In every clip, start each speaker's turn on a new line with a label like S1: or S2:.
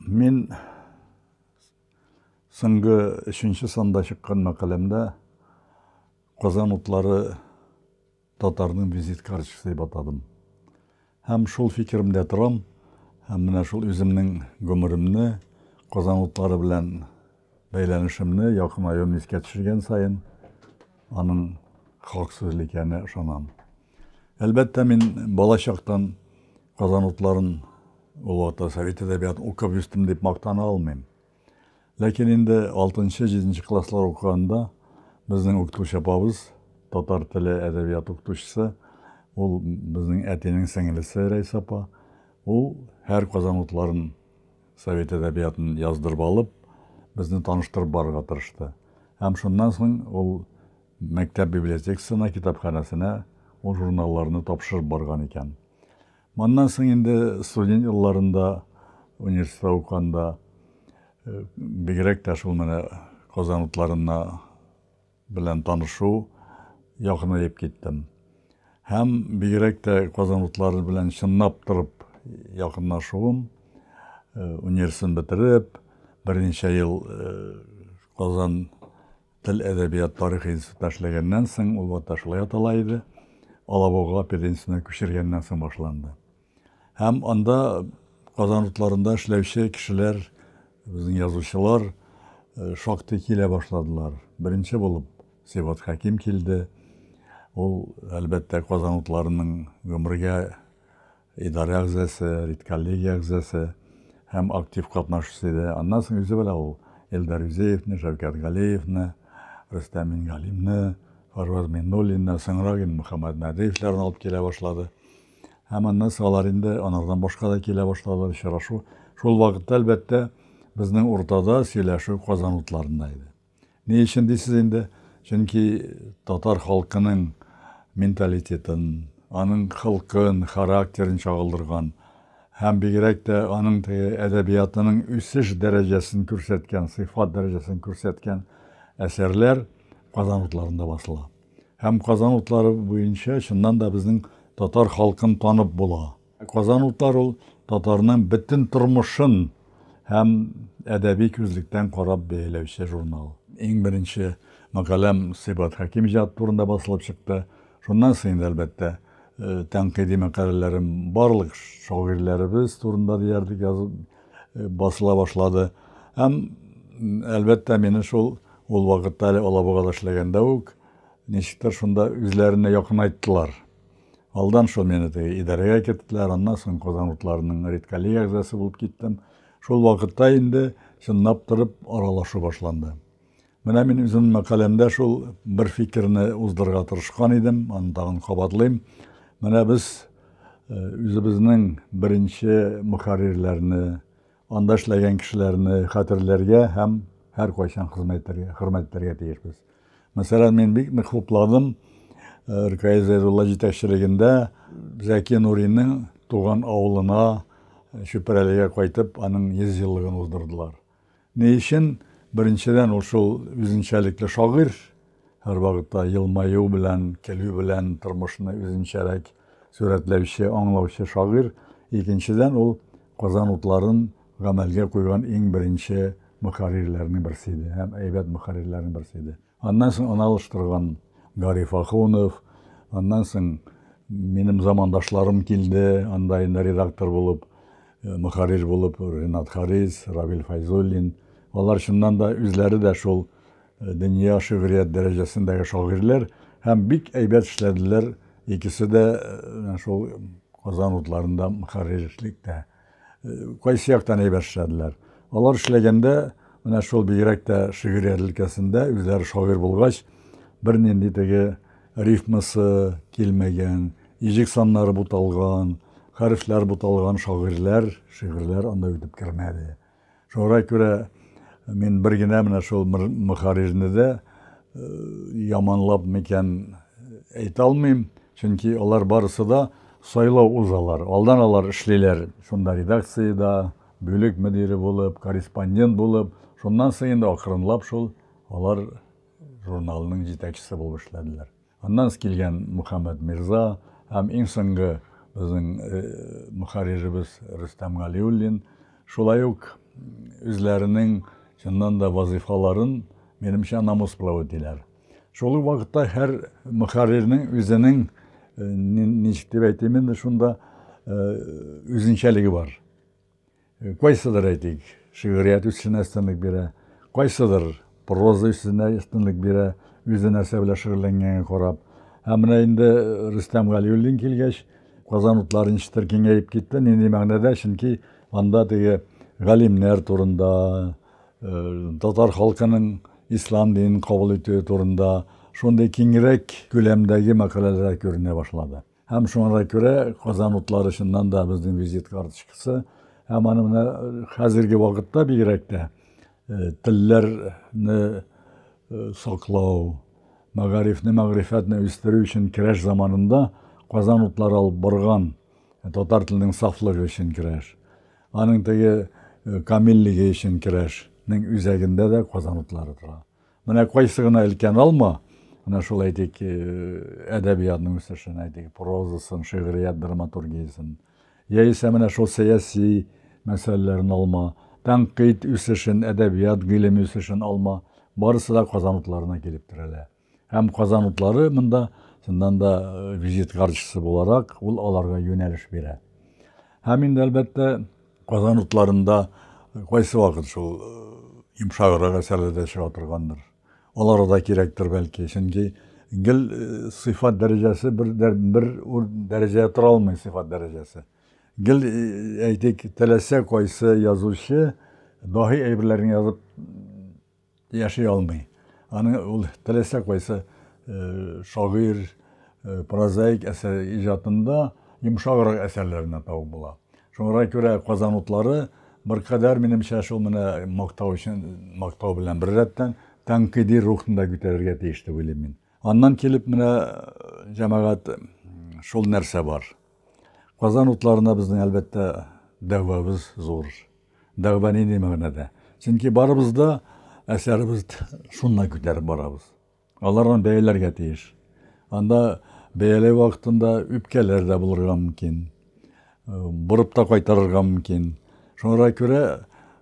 S1: Мин соңгы өченче санда чыккан мәкаләмдә Казан утлары татарның визит карточкасы дип атадым. Һәм шул фикеремдә торам, һәм менә шул үземнең гомеремне Казан утлары белән бәйләнешемне якынаюын искә төшергән саен аның хак сүзле икәненә ышанам. Әлбәттә, мин бала чактан Казан утларын Олы Ата совет әдәбиятын укып үстем дип мактана алмыйм. Ләкин инде 6-7 класслар укыганда безнең укытучы апабыз, татар теле әдәбият укытучысы, ул безнең әтинең сеңелесе Рәйс апа, ул һәр Казан утларын совет әдәбиятын яздырып алып, безне таныштырып барырга тырышты. Һәм шуннан соң ул Мәктәп библиотекасына, китапханәсенә ул журналларны тапшырып барган икән. Моннан соң инде студент елларында, университетта укыганда, бигрәк тә шул менә Казан утларына белән танышу якынаеп киттем. Һәм бигрәк тә Казан утлары белән чынлап торып якынлашуым, университетны бетереп, берничә ел Казан Тел-әдәбият тарихы институтында эшләгәннән соң, ул вакытта шулай атала иде, Алабуга пединститутына күчергәннән соң башланды. Һәм анда Казан утларында эшләүче кешеләр, безнең язучылар э, шактый килә башладылар. Беренче булып Сибат Хәким килде. Ул, әлбәттә, Казан утларының гомергә Идарә әгъзасы, редколлегия әгъзасы һәм актив катнашчысы иде. Аннан соң үзе белә ул Илдар Юзеевны, Шәүкәт Галиевны, Рөстәм Мингалимны, Фарваз Миңнуллинны, соңрак инде Мөхәммәт Мәдиевләрне алып килә башлады. Һәм аннан соң алар инде анардан башка да килә башладылар, очрашу. Шул вакытта, әлбәттә, безнең уртада сөйләшү Казан утларында иде. Ни өчен дисез инде? Чөнки татар халкының менталитетын, аның холкын, характерын чагылдырган һәм бигрәк тә аның теге әдәбиятының үсеш дәрәҗәсен күрсәткән, сыйфат дәрәҗәсен күрсәткән әсәрләр Казан утларында басыла. Һәм Казан утлары буенча чыннан да безнең татар халкын танып була. Казан утлар ул татарның бөтен тормышын һәм әдәби күзлектән карап бәяләүче журнал. Иң беренче мәкаләм Сыйбат Хәким иҗаты турында басылып чыкты. Шуннан соң инде, әлбәттә, э, тәнкыйди мәкаләләрем барлык шагыйрьләребез турында диярлек язып э, басыла башлады. Һәм, әлбәттә, мине шул ул вакытта әле Алабугада эшләгәндә үк ничектер шунда үзләренә якынайттылар. Алдан шул мине теге идарәгә керттеләр, аннан соң Казан утларының редколлег әгъзасы булып киттем. Шул вакытта инде чынлап торып аралашу башланды. Менә мин үзем мәкаләмдә шул бер фикерне уздырырга тырышкан идем, аны тагын кабатлыйм. Менә без э, үзебезнең беренче мөхәррирләрне Анда эшләгән кешеләрне хәтерләргә һәм һәркайчан хезмәт итәргә, хөрмәт итәргә тиешбез. Мәсәлән, мин бик нык хупладым э, Ркаи Зәйдулла җитәкчелегендә Зәки Нуринның туган авылына э, Чүпрәлегә кайтып, аның 100 еллыгын уздырдылар. Ни өчен? Беренчедән, ул шул үзенчәлекле шагыйрь, һәрвакытта елмаю белән, көлү белән тормышны үзенчәрәк сурәтләүче, аңлаучы шагыйрь, икенчедән, ул Казан утларын гамәлгә куйган иң беренче мөхәррирләрнең берсе иде һәм әйбәт мөхәррирләрнең берсе иде. Аннан соң аны алыштырган Гариф Ахунов, аннан соң минем замандашларым килде, анда инде редактор булып, э, мөхәррир булып Ренат Харис, Равил Файзуллин. Алар чыннан да үзләре дә шул Дөнья шигърият дәрәҗәсендәге шагыйрьләр һәм бик әйбәт эшләделәр, икесе дә менә шул Казан утларында мөхәррирлекдә. Кайсы яктан әйбәт эшләделәр? Алар эшләгәндә менә шул бигрәк тә шигърият өлкәсендә үзләре шагыйрь булгач, бернинди теге рифмасы килмәгән, иҗек саннары буталган, хәрефләр буталган шагыйрьләр, шигырьләр анда үтеп кермәде. Шуңа күрә мин бер генә менә шул Мөхәррирне дә яманлап микән әйтә алмыйм, чөнки алар барысы да сайлау узалар. Алдан алар эшлиләр шунда редакциядә, бүлек мөдире булып, корреспондент булып. Шуннан соң инде акрынлап шул алар журналының җитәкчесе булып эшләделәр. Аннан килгән Мөхәммәд Мирза һәм иң соңгы безнең мөхәрриребез Рөстәм Галиуллин шулай ук үзләренең чыннан да вазыйфаларын, минемчә, намус белән үтиләр. Шул ук вакытта һәр мөхәррирнең үзенең, ничек дип әйтим инде шунда, үзенчәлеге бар. Кайсыдыр, әйтик, шигърият үсешенә өстенлек бирә, кайсыдыр проза үсешенә өстенлек бирә, үзе нәрсә белән шөгыльләнгәнгә карап. Һәм менә инде Рөстәм Галиуллин килгәч, Казан утлары ничектер киңәеп китте, нинди мәгънәдә, чөнки анда теге галимнәр турында, татар халкының ислам динен кабул итүе турында шундый киңрәк күләмдәге мәкаләләр күренә башлады. Һәм шуңа да күрә Казан утлары чыннан да безнең визит карточкасы. Һәм аны менә хәзерге вакытта бигрәк тә э, телләрне э, саклау, мәгарифне, мәгърифәтне үстерү өчен керәш заманында Казан утлары алып барган э, татар теленең сафлыгы өчен керәш. Аның теге камиллеге өчен керәшнең үзәгендә дә Казан утлары тора. Менә кайсы гына өлкән алма, менә шул әйтик, әдәбиятның үсешен, әйтик, прозасын, шигърият драматургиясен, яисә менә шул сәяси мәсьәләләрен алма, тәнкыйть үсешен, әдәбият, гыйлем үсешен алма, барысы да Казан утларына килеп терәлә. Һәм Казан утлары монда, чыннан да, визит карточкасы буларак, ул аларга юнәлеш бирә. Һәм инде, әлбәттә, Казан утларында кайсы вакыт шул йомшаграк әсәрләр дә чыга торгандыр. Алар да кирәктер бәлки, чөнки гел сыйфат дәрәҗәсе бер бер дәрәҗә тора алмый сыйфат дәрәҗәсе. Гел әйтик, теләсә кайсы язучы даһи әйберләрен язып Яши алмый. Аны ул теләсә кайсы шагыйрь, прозаик әсәр иҗатында йомшаграк әсәрләреннән табып була. Шуңа күрә Казан утлары беркадәр, минемчә, шул менә мактау өчен, мактау белән беррәттән, тәнкыйди рухны да күтәрергә тиеш дип уйлыйм мин. Аннан килеп менә, җәмәгать, шул нәрсә бар. Казан утларына безнең, әлбәттә, дәгъвабыз зур. Дәгъва нинди мәгънәдә? Чөнки барыбыз да әсәребез шуннан күтәреп барабыз. Аларны бәяләргә тиеш. Анда бәяләү вакытында үпкәләр дә булырга мөмкин. Борып та кайтарырга мөмкин. Шуңа күрә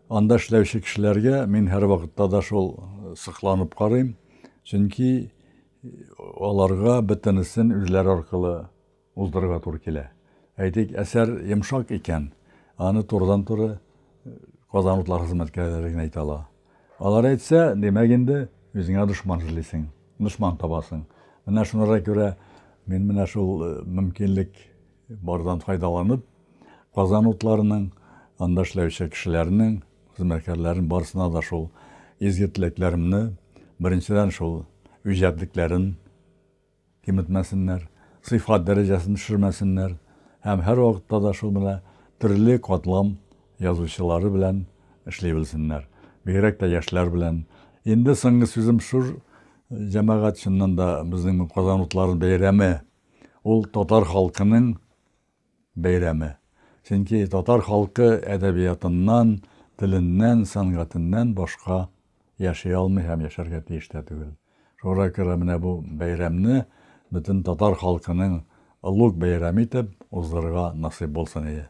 S1: анда эшләүче кешеләргә мин һәрвакытта да шул сокланып карыйм. Чөнки аларга бөтенесен үзләре аркылы Уздырырга туры килә. Әйтик, әсәр йомшак икән, аны турыдан-туры Казан утлары хезмәткәрләре генә әйтә ала. Алар әйтсә, димәк инде, үзеңә дошман эзлисең, дошман табасың. Менә шунара күрә мин менә шул э, мөмкинлек бардан файдаланып, Казан утларының, анда эшләүче кешеләрнең, хезмәткәрләрен барысына да шул изге теләкләремне, беренчедән шул үҗәтлекләрен Киметмәсеннәр, сыйфат дәрәҗәсен төшермәсеннәр һәм һәрвакытта да шул менә төрле катлам язучылары белән эшли белсеннәр. Бигрәк тә яшьләр белән. Инде соңгы сүзем шуш, җәмәгать, чыннан да, безнең бу Казан утларын бәйрәме, ул татар халкының, бәйрәме. Чөнки татар халкы әдәбиятыннан, теленнән, сәнгатеннән башка яши алмый һәм яшәргә тиеш тә түгел. Шуңа күрә менә бу бәйрәмне бөтен татар халкының олуг бәйрәме итеп уздырырга насыйп булсын ие.